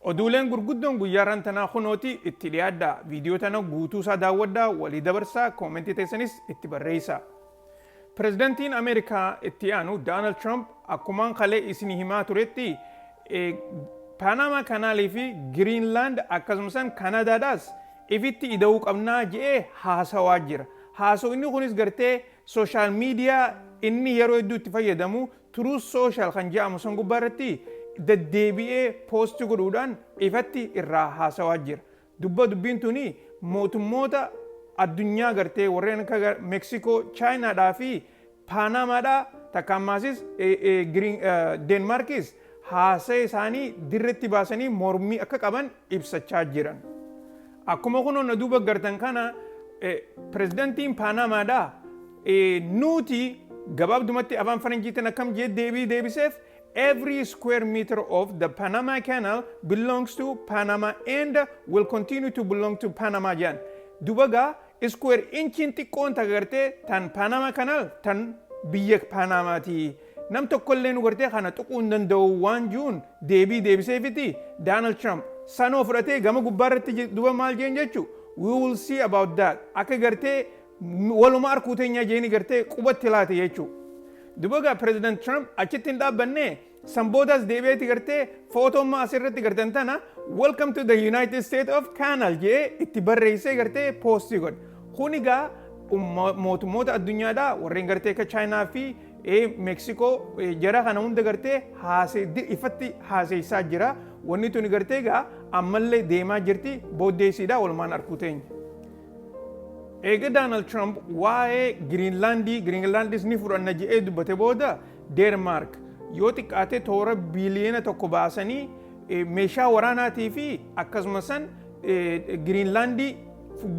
Oduuleen gurguddoon guyyaarran tanaa kunooti itti dhiyaadhaa. Viidiyoo tana guutuu isaa daawwadhaa, walii dabarsaa, koomentii teessanis itti barreessaa. Pirezidantiin Ameerikaa itti aanu Daanald Tiraamp akkumaan kalee isinii himaa turetti Paanaamaa Kanaalii fi Giriinlaand akkasumasan Kanaadaadhaas ifitti ida'uu qabnaa je'ee haasawaa jira. Haasaw inni kunis gartee sooshaal miidiyaa inni yeroo hedduu itti fayyadamu Truth Social kan jedhamu san gubbaa irratti deddeebi'ee post godhuudhaan ifatti irraa haasawaa jira. Dubba dubbiin tuni mootummoota addunyaa gartee warreen akka Mexico, China dhaa fi Panama dhaa takka ammaasis Denmarkis haasaya isaanii dirretti baasanii mormii akka qaban ibsachaa jiran. Akkuma kunoo na duuba gartan kana pirezidantiin Paanaamaadhaa nuuti gabaabdumatti afaan faranjiitiin akkam jee deebii deebiseef every square meter of the Panama Canal belongs to Panama and will continue to belong to Panama jedhan. Dubagaa Iskuweer inchiin xiqqoon takka gartee tan Paanaama Kanaal tan biyya Paanaamaati. Nam tokkolleenu gartee kana tuquu hin danda'u waan ji'uun deebii deebiseefiti Daanald Tiraamp. Sanoo fudhatee gama gubbaa irratti duba maal jeen jechu we will see about that akka gartee waluma arkuu teenyaa jeeni gartee quba itti laate jechu. Duba gaa Pireezidant Tiraamp achitti hin dhaabbannee San boodas deebi'eeti gartee footoomma asirratti gartan tana welcome to the United States of Canal jee itti barreessee gartee poostii godhe. Kun egaa mootummoota addunyaadha warreen gartee akka Chaayinaa fi Meeksikoo jara kana hunda gartee ifatti haaseessaa jira. Wanni tuni gartee egaa ammallee deemaa jirti booddeessiidha walumaan arkuu teenya. Eega Doonaald Tiraamp waa'ee Giriinlaandii Giriinlaandis ni fudhanna jedhee dubbate booda Deenmaark yoo xiqqaate toora biiliyoona tokko baasanii meeshaa waraanaatii fi akkasuma san Giriinlaandii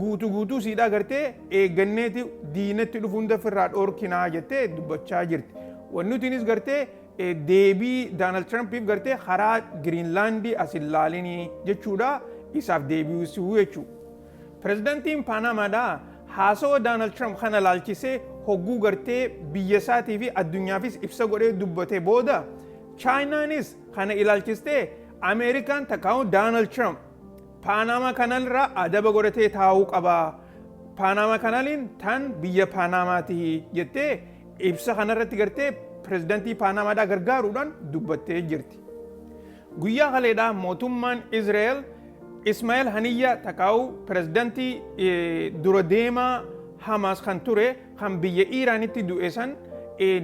guutuu guutuu siidhaa gartee eegganneeti diinatti dhufu hunda ofirraa dhoorkinaa jettee dubbachaa jirti. Wanni nutiinis gartee deebii Daanaald Tiraampiif gartee karaa Giriinlaandii as hin laalinii jechuudha isaaf deebi'uu jechuudha. Pirezidantiin Paanaamaadhaa haasawa Daanald Tiraamp kana ilaalchisee hogguu gartee biyya isaatii fi addunyaafis ibsa godhee dubbate booda Chaayinaanis kana ilaalchistee Ameerikaan takkaa'uu Daanald Tiraamp Paanaamaa kanaalirraa adaba godhatee taa'uu qaba. Paanaamaa kanaaliin tan biyya Paanaamaati jettee ibsa kanarratti gartee pirezidantii Paanaamaadhaa gargaaruudhaan dubbattee jirti. Guyyaa kaleedhaa mootummaan Izreel Ismaa'el Haniyyaa takaa'u pirezidantii dura deemaa Hamaas kan ture kan biyya Iiraanitti du'e san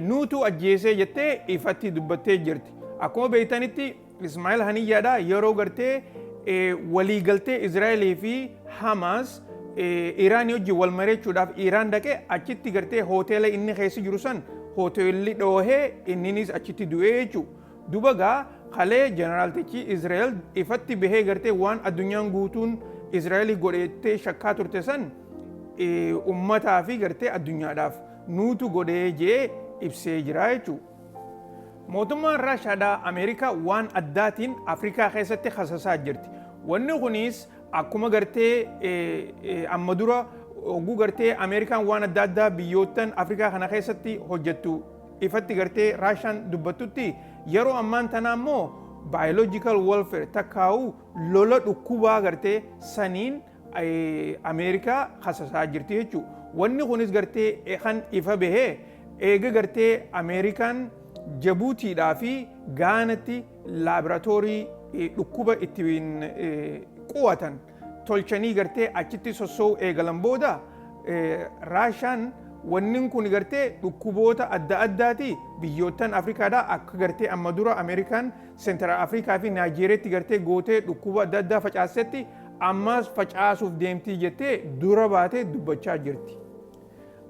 nuutu ajjeesee jettee ifatti dubbattee jirti. Akkuma beektanitti Ismaa'el Haniyyaadha yeroo gartee waliigaltee Izraa'elii fi Hamaas Iiraanii wajjin wal mareechuudhaaf Iiraan dhaqe achitti gartee hoteela inni keessa jiru san hoteelli dhoohee inninis achitti du'ee jechuudha. Duba gaa kalee jeneraltichii Israel ifatti behee gartee waan addunyaan guutuun Israeli godhe jettee shakkaa turte san ummataa fi gartee addunyaadhaaf nuutu godhee jee ibsee jiraa jechuu. Mootummaan Raashaadhaa Ameerikaa waan addaatiin Afrikaa keessatti kasasaa jirti. Wanni kuniis akkuma gartee amma dura hogguu gartee Ameerikaan waan adda addaa biyyoottan Afrikaa kana keessatti hojjettu ifatti gartee Raashaan dubbattutti yeroo ammaan tanaa immoo biological warfare takkaa'u lola dhukkubaa gartee saniin Ameerikaa hasasaa jirti jechuudha. Wanni kunis gartee kan ifa bahee eega gartee Ameerikaan Jabuutiidhaa fi Gaanatti laaboraatoorii dhukkuba ittiin qo'atan tolchanii gartee achitti sossoo'uu eegalan booda Raashaan wannin kun gartee dhukkuboota adda addaati biyyoottan Afrikaadhaa akka gartee amma dura Ameerikaan Seentiraal Afrikaa fi Naayijeeriyaatti gartee gootee dhukkuba adda addaa facaastetti ammaas facaasuuf deemtii jettee dura baatee dubbachaa jirti.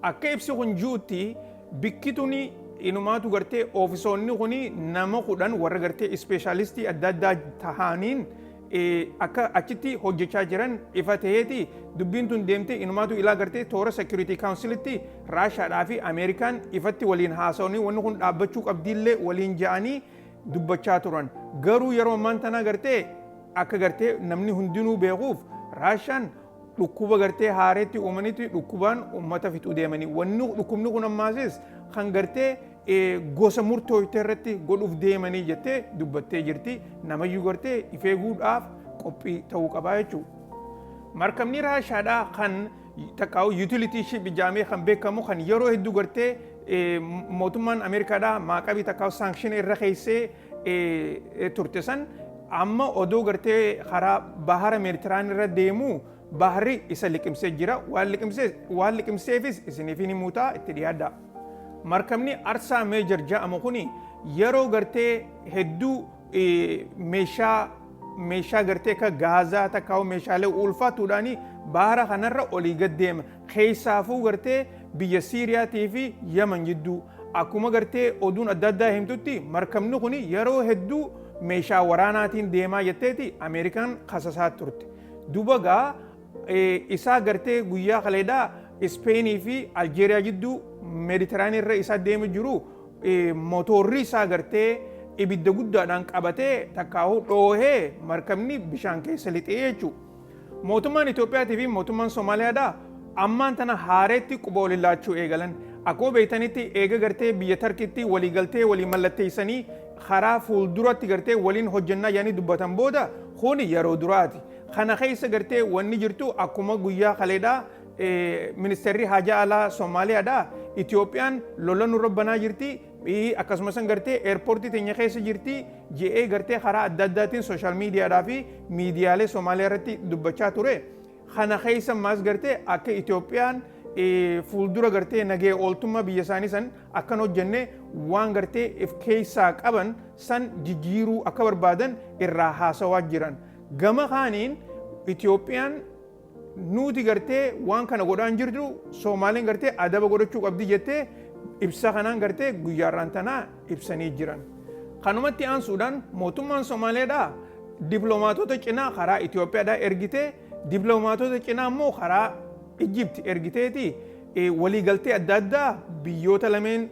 Akka ibsi kun ji'utti bikki tuni inumaatu gartee oofisoonni kun nama kudhan warra gartee ispeeshaalistii adda addaa tahaaniin akka achitti hojjechaa jiran ifa ta'eeti dubbiin tun deemtee inumaatu ilaa gartee toora security councilitti raashaadhaa fi ameerikaan ifatti waliin haasa'anii wanni kun dhaabbachuu qabdiillee waliin ja'anii dubbachaa turan garuu yeroo ammaan tanaa gartee akka gartee namni hundinuu beekuuf raashaan dhukkuba gartee haareetti uumanitti dhukkubaan uummata fixuu deemanii wanni dhukkubni kun ammaasis kan gartee gosa murtooyte irratti godhuuf deemanii jettee dubbattee jirti. Namayyuu gartee if eeguudhaaf qophii ta'uu qabaa jechuudha. Markabni Raashaadhaa kan takkaa'u yuutilitii ship ijaamee kan beekamu kan yeroo hedduu gartee mootummaan Ameerikaadhaa maaqabii takkaa'u saankshin irra keessee turte san amma odoo gartee karaa bahara meeditiraanii irra deemuu baharri isa liqimsee jira. Waan liqimseefis isiniif ni muutaa itti dhiyaadhaa. Markabni Arsaa Meejar ja'amu kun yeroo gartee hedduu meeshaa meeshaa gartee akka gaazaa takkaawuu meeshaalee ulfaatuudhaan baara kanarra olii gad deema. Keessaafuu gartee biyya Siiriyaatii fi Yaman jidduu. Akkuma gartee oduun adda addaa himtutti markabni kun yeroo hedduu meeshaa waraanaatiin deemaa jetteeti Ameerikaan kasasaa turte. Duba gaa isaa gartee guyyaa kaleedhaa Ispeenii fi Aljeeriyaa jidduu Meediteraanii irra isaa deemu jiru motorri isaa gartee ibidda guddaadhaan qabatee takkaahuu dhoohee markabni bishaan keessa lixee jechuudha. Mootummaan Itoophiyaatii fi mootummaan Somaaliyaadhaa ammaan tana haareetti quba waliin laachuu eegalan. Akkuma beektanitti eega gartee biyya Tarkiitti walii galtee walii mallatteessanii karaa fuulduratti gartee waliin hojjannaa yaanii dubbatan booda kuni yeroo duraati. Kana keessa gartee wanni jirtu akkuma guyyaa kaleedhaa Ministeerri Haajaa Alaa Somaaliyaadhaa Itoophiyaan lola nurra banaa jirti, akkasuma san gartee eerpoortii teenya keessa jirti je'ee gartee karaa adda addaatiin sooshaal miidiyaadhaa fi miidiyaalee Somaaliyaa irratti dubbachaa ture. Kana keessa maas gartee akka Itoophiyaan fuuldura gartee nagee ooltummaa biyya isaanii san akka hin hojjenne waan gartee if keessaa qaban san jijjiiruu akka barbaadan irraa haasawaa jiran. Gama kaaniin Itoophiyaan nuuti gartee waan kana godhaan jirtu Soomaaleen gartee adaba godhachuu qabdi jettee ibsa kanaan gartee guyyaarraan tanaa ibsanii jiran. Kanumatti aansuudhaan mootummaan Somaaleedhaa diplomaatota cinaa karaa Itoophiyaadhaa ergitee diplomaatota cinaa immoo karaa Ijibti ergiteeti waliigaltee adda addaa biyyoota lameen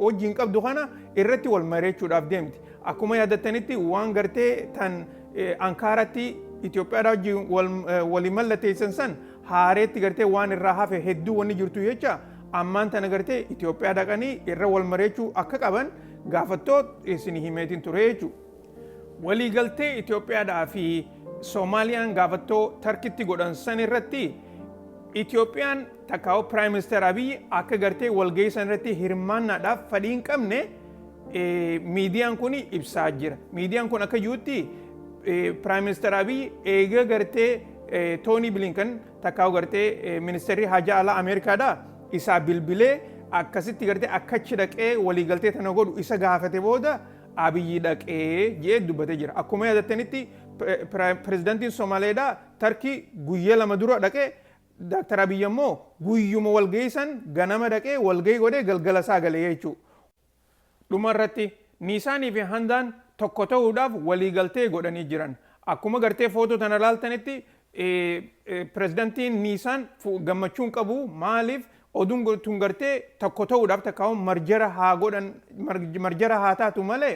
wajjin qabdu kana irratti wal mari'achuudhaaf deemti. Akkuma yaadattanitti waan gartee tan Ankaaratti Itoophiyaadhaa wajjin walii mallatteessan san haareetti gartee waan irraa hafe hedduu wanni jirtu jecha ammaan tana gartee Itoophiyaa dhaqanii irra wal mareechuu akka qaban gaafattoot isin himeetiin ture jechuudha. Waliigaltee Itoophiyaadhaa fi Soomaaliyaan gaafattoo Tarkitti godhan san irratti Itoophiyaan takkaa'u Piraayim Ministeer Abiyyi akka gartee walgahii san irratti hirmaannaadhaaf fadhii hin qabne miidiyaan kun ibsaa jira. Miidiyaan kun akka jirutti Piraayim Ministeer Abiy eega gartee Toonii Bilinkan takkaa gartee ministeerri haajaa alaa Ameerikaadha isaa bilbilee akkasitti gartee akkachi dhaqee waliigaltee tana godhu isa gaafate booda Abiyyi dhaqee jee dubbatee jira. Akkuma yaadattanitti pirezidantiin Somaaleedha Tarkii guyyaa lama dura dhaqee Daaktar Abiyyi ammoo guyyuma walgahii san ganama dhaqee walgahii godhee galgala isaa galee jechuudha. Dhuma irratti, Niisaanii fi Handaan tokko ta'uudhaaf waliigaltee godhanii jiran. Akkuma gartee footoo tana laaltanitti pirezidantiin Niisaan gammachuu hin qabu. Maaliif oduun tun gartee tokko ta'uudhaaf takkaawwan marjara haa godhan marjara haa taatu malee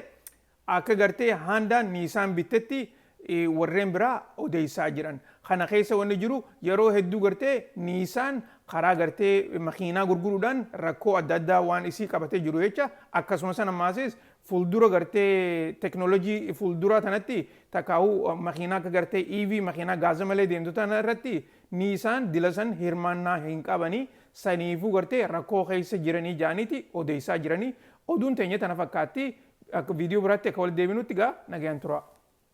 Akka gartee Haandaan Niisaan bittetti warreen biraa odeessaa jiran. Kana keessa wanni jiru yeroo hedduu gartee Niisaan karaa gartee makiinaa gurguruudhaan rakkoo adda addaa waan isii qabatee jiru jecha akkasuma san ammaasis fuuldura gartee teknolojii fuulduraa tanatti takkaahuu makiinaa akka gartee EV makiinaa gaaza malee deemtu tana irratti Niisaan dila san hirmaannaa hin qabani saniifuu gartee rakkoo keessa jiranii ja'aniiti odeessaa jiranii. Oduun teenya tana fakkaatti. Akka video biraatti akka walitti deebinutti gaa nagayaan turaa.